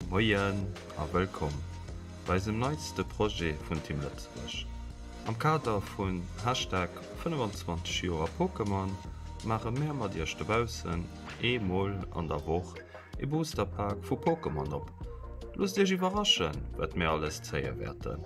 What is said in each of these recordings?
Moien a wëllkomm bei eisem neitste Projet vun Team Lëtzebuerg. Am Kader vun Hashtag 25 Joer Pokémon maache mär mat iech dobaussen ee Mol an der Woch ee Booster Pack vu Pokémon op. Loosst iech iwwerraschen, wat mär alles zéie wäerten.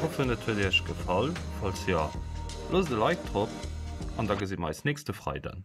Hoffen et huet iech gefall, falls jo loosst e Like drop an da gesi mer eis nächste Freiden.